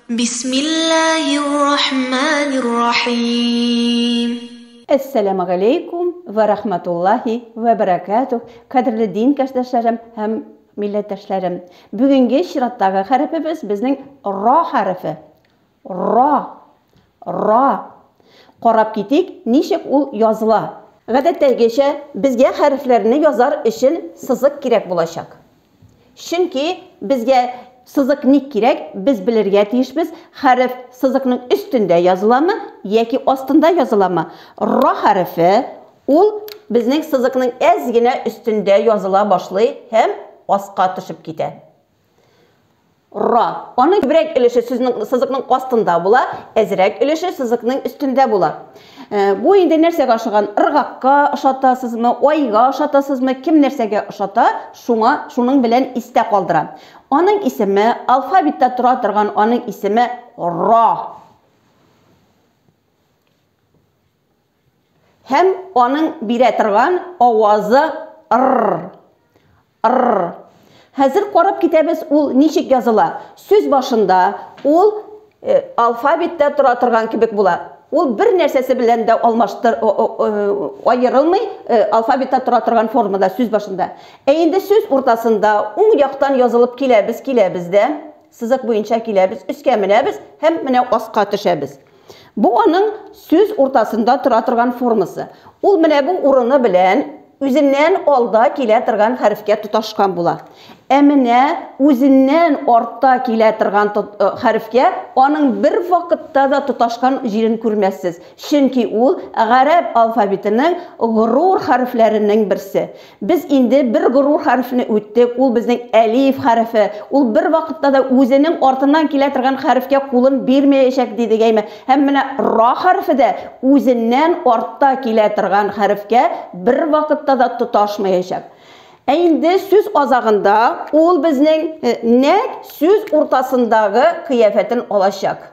Бисмиллаһир-рахманир-рахим. Әссәламү галәйкүм вә рахматуллаһи вә бәрәкәтүһ, кадерле дин кәшдәшләрем һәм милләттәшләрем! Бүгенге чираттагы хәрефебез безнең Ра хәрефе. Ра. Ра. Карап китик, ничек ул языла. Гадәттәгечә, безгә хәрефләрне язар өчен сызык кирәк булачак. Чөнки безгә сызык ник кирәк, без белергә тиешбез, хәреф сызыкның өстендә языламы яки астында языламы? Ра хәрефе, ул безнең сызыкның әз генә өстендә языла башлый һәм аска төшеп китә. Ра. Аның күбрәк өлеше сүзнең сызыкның астында була, әзрәк өлеше сызыкның өстендә була. Э, бу инде нәрсәгә ошаган? Ыргакка ошатасызмы, айга ошатасызмы, кем нәрсәгә ошата, шуңа, шуның белән истә калдыра. Аның исеме, алфавитта тора торган аның исеме Ра. Һәм аның бирә торган авазы р-р, р-р. Хәзер карап китәбез ул ничек языла. Сүз башында ул алфавиттә тора торган кебек була. Ул бер нәрсәсе белән дә алмаштыр, аерылмый, алфавиттә тора торган формада сүз башында. Ә инде сүз уртасында уң яктан язылып киләбез, киләбез дә, сызык буенча киләбез, өскә менәбез һәм менә аска төшәбез. Бу аның сүз уртасында тора торган формасы. Ул менә бу урыны белән үзеннән алда килә торган хәрефкә тоташкан була. Ә менә үзеннән артта килә торган э, хәрефкә аның бер вакытта да тоташкан җирен күрмәссез. Чөнки ул гарәп алфавитының горур хәрефләренең берсе. Без инде бер горур хәрефне үттек, ул безнең әлиф хәрефе. Ул бервакытта да үзенең артыннан килә торган хәрефкә кулын бирмәячәк, дидек, әйме? Һәм менә ра хәрефе дә үзеннән артта килә торган хәрефкә бервакытта да тоташмаячак. Ә инде сүз азагында ул безнең нәкъ сүз уртасындагы кыяфәтен алачак.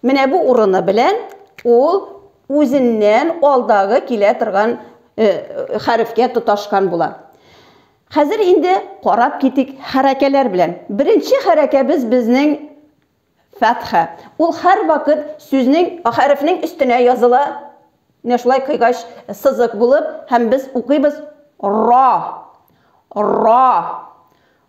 Менә бу урыны белән ул үзеннән алдагы килә торган э, хәрефкә тоташкан була. Хәзер инде карап китик хәрәкәләр белән. Беренче хәрәкәбез безнең фәтха. Ул һәр вакыт сүзнең хәрефнең өстенә языла. Менә шулай кыйгач сызык булып, һәм без укыйбыз ра. Ра.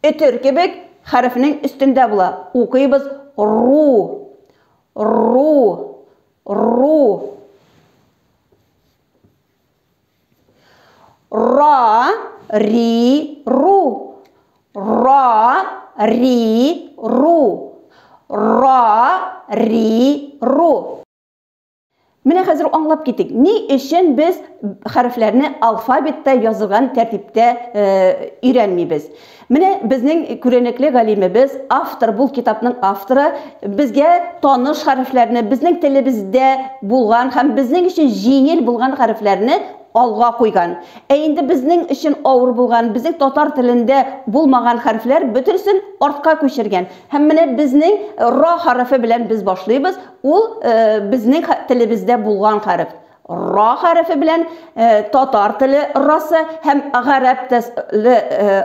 Өтер кебек хәрефнең өстендә була. Укыйбыз, ру, ру, ру. Ра, ри, ру. Ра, ри, ру. Ра, ри, ру. Менә хәзер аңлап китик, ни өчен без хәрефләрне алфавитта язылган тәртиптә э, өйрәнмибез. Менә безнең күренекле галимебез, автор, бул китапның авторы, безгә таныш хәрефләрне, безнең телебездә булган һәм безнең өчен җиңел булган хәрефләрне алга куйган. Ә инде безнең өчен авыр булган, безнең татар телендә булмаган хәрефләр бөтенесен артка күчергән. Һәм менә безнең ра хәрефе белән без башлыйбыз. Ул безнең телебездә булган хәреф. Ра хәрефе белән татар теле расы һәм гарәп теле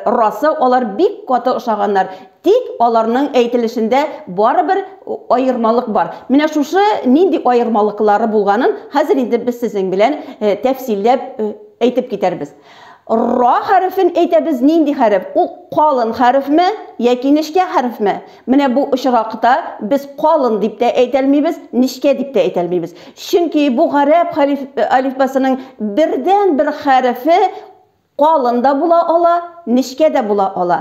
расы алар бик каты ошаганнар. Тик аларның әйтелешендә барыбер аермалык бар. Менә шушы нинди аермалыклары булганын хәзер инде без сезнең белән тәфсилләп әйтеп китәрбез. Ра хәрефен әйтәбез нинди хәреф? Ул калын хәрефме, яки нечкә хәрефме? Менә бу очракта без калын дип тә әйтәлмибез, нечкә дип тә әйтәлмибез. Чөнки бу гарәп алифбасының бердәнбер хәрефе калын да була ала, нечкә дә була ала.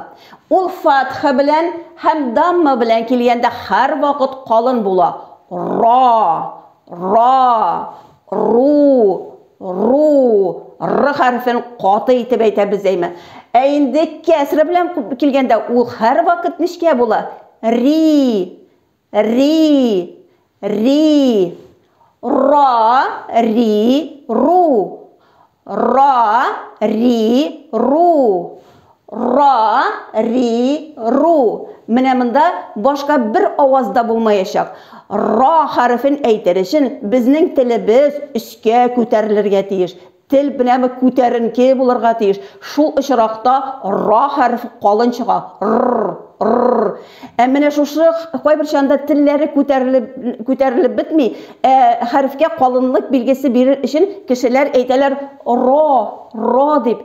Ул фатха белән һәм дамма белән килгәндә һәрвакыт калын була. Ра, ра, ру, Ру, р хәрефен каты итеп әйтәбез әйме. Ә инде кәсре белән килгәндә ул һәр вакыт нечкә була. Ри, ри, ри, ра, ри, ру, ра, ри, ру, Ра, ри, ру. Менә монда башка бер аваз да булмаячак. Ра хәрефен әйтер өчен безнең телебез өскә күтәрелергә тиеш. Тел менә күтәренке булырга тиеш. Шул очракта ра хәрефе калын чыга. Рр, рр. Ә менә шушы кайбер чанда телләре күтәрелеп, күтәрелеп бетми. Ә хәрефкә калынлык билгесе бирер өчен кешеләр әйтәләр ро, ро дип.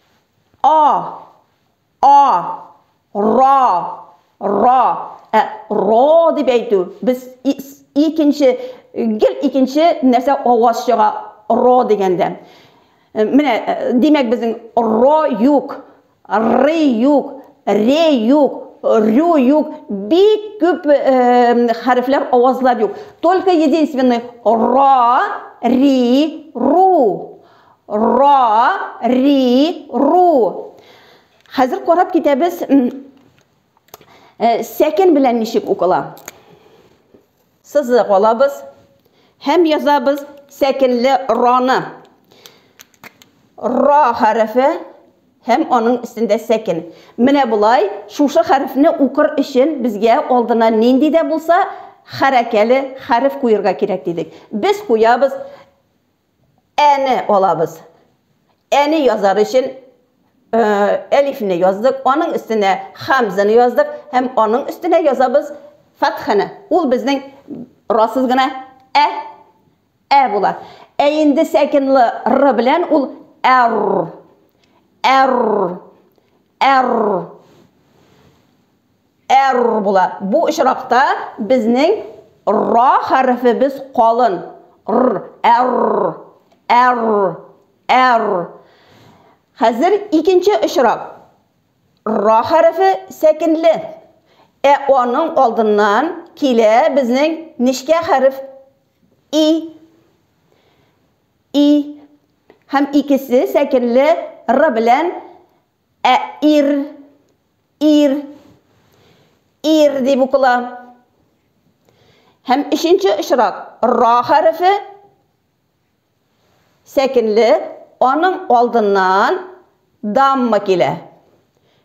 А. А. Ра. Ра. Ә ро дип әйтү. Без икенче гел икенче нәрсә аваз чыга ро дигәндә. Э, менә э, димәк безнең ро юк, ры юк, ре юк, рю юк, бик күп э, хәрефләр авазлар юк. Только единственный ра, ри, ру. Ра, ри, ру. Хәзер карап китәбез. Э, сәкен белән ничек укыла? Сызык алабыз һәм язабыз сәкенле раны. Ра хәрефе һәм аның өстендә сәкен. Менә болай шушы хәрефне укыр өчен безгә алдына нинди дә булса хәрәкәле хәреф куерга кирәк дидек. Без куябыз әне алабыз. Әне язар өчен әлифне яздык, аның өстенә хамзаны яздык һәм аның өстенә язабыз фатханы. Ул безнең расыз гына ә ә була. Ә инде сәкинлы р белән ул әр әр әр Р була. Бу очракта безнең ра хәрефебез калын. Р, р, р, р. Хәзер икенче очрак. Ра хәрефе сәкенле. Ә аның алдыннан килә безнең нечкә хәреф и. И. Һәм икесе сәкенле р белән Ә ир, ир, ир дип укыла. Һәм өченче очрак, ра хәрефе, сәкенле, аның алдыннан дамма килә.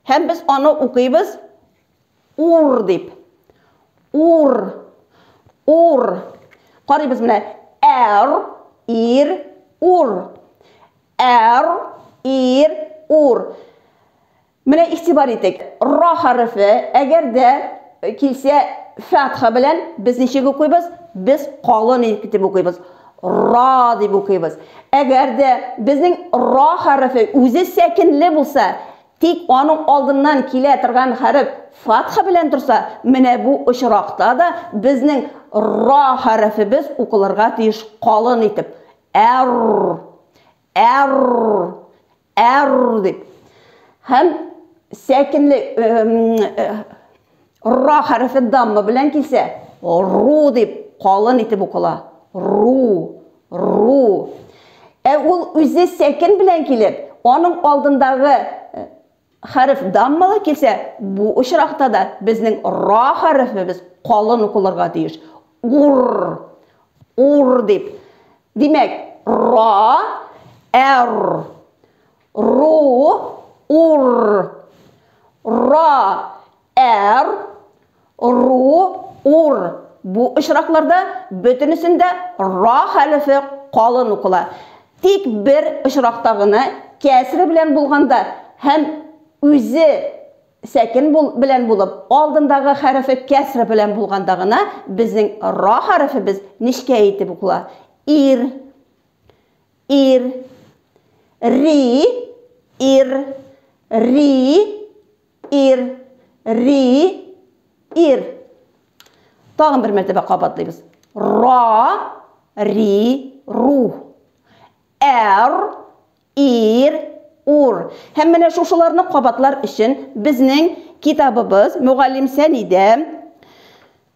Һәм без аны укыйбыз, Ур дип. Ур. Ур. Карыйбыз менә. Әр, ир, ур. Әр, ир, ур. Менә игътибар итик. Ра хәрефе, әгәр дә э, килсә фәтха белән без ничек укыйбыз? Без калын итеп укыйбыз. Ра дип укыйбыз. Әгәр дә безнең ра хәрефе үзе сәкенле булса, Тик аның алдыннан килә торган хәреф фатха белән торса, менә бу очракта да безнең ра хәрефебез укылырга тиеш калын итеп, әр-р, әр-р, әр-р дип. Һәм сәкенле, э, э, Ра хәрефе дамма белән килсә, ру дип калын итеп укыла. Ру, ру. Ә ул үзе сәкен белән килеп, аның алдындагы э, хәреф даммалы килсә, бу очракта да безнең ра хәрефебез калын укылырга тиеш. Ур, ур дип. Димәк, ра, әр. Ру, ур. Ра, әр. Ру, ур. Бу очракларда бөтенесендә ра хәрефе калын укыла. Тик бер очракта гына кәсре белән булганда һәм үзе сәкен белән булып, алдындагы хәрефе кәсре белән булганда гына безнең ра хәрефебез нечкә итеп укыла. Ир. Ир. Ри. Ир. Ри. Ир. Ри. Ир. Тагын бер мәртәбә кабатлыйбыз. Ра. Ри. Ру. Әр. Ир. Ур. Һәм менә шушыларны кабатлар өчен безнең китабыбыз, мөгаллим Сәнидә,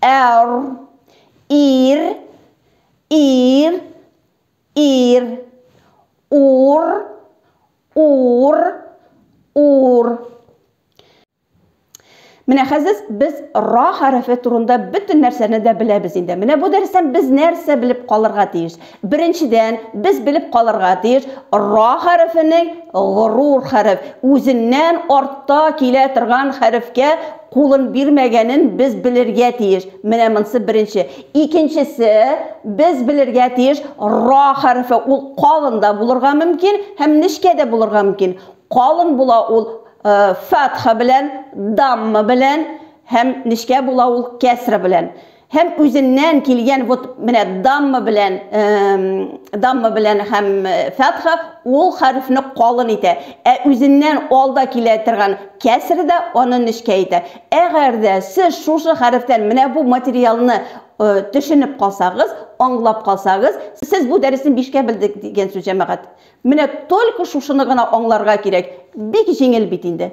Эр. Ир. Ир. Ир. Ур. Ур. Ур. Менә хәзер без ра хәрефе турында бөтен нәрсәне дә беләбез инде. Менә бу дәрестән без нәрсә белеп калырга тиеш? Беренчедән, без белеп калырга тиеш, ра хәрефенең горур хәреф, үзеннән артта килә торган хәрефкә кулын бирмәгәнен без белергә тиеш. Менә монсы беренче. Икенчесе, без белергә тиеш, ра хәрефе ул калын да булырга мөмкин һәм нечкә дә булырга мөмкин. Калын була ул фәтха белән, дамма белән һәм нечкә була ул кәсра белән. Һәм үзеннән килгән вот менә дамма белән дамма белән һәм фәтха ул хәрефне калын итә. Ә үзеннән алда килә торган кәср дә аны нечкә итә. Әгәр дә сез шушы хәрефтән менә бу материалны төшенеп калсагыз, аңлап калсагыз, сез бу дәресне бишкә белдек дигән сүз, җәмәгать. Менә только шушыны гына аңларга кирәк. Бик җиңел бит инде.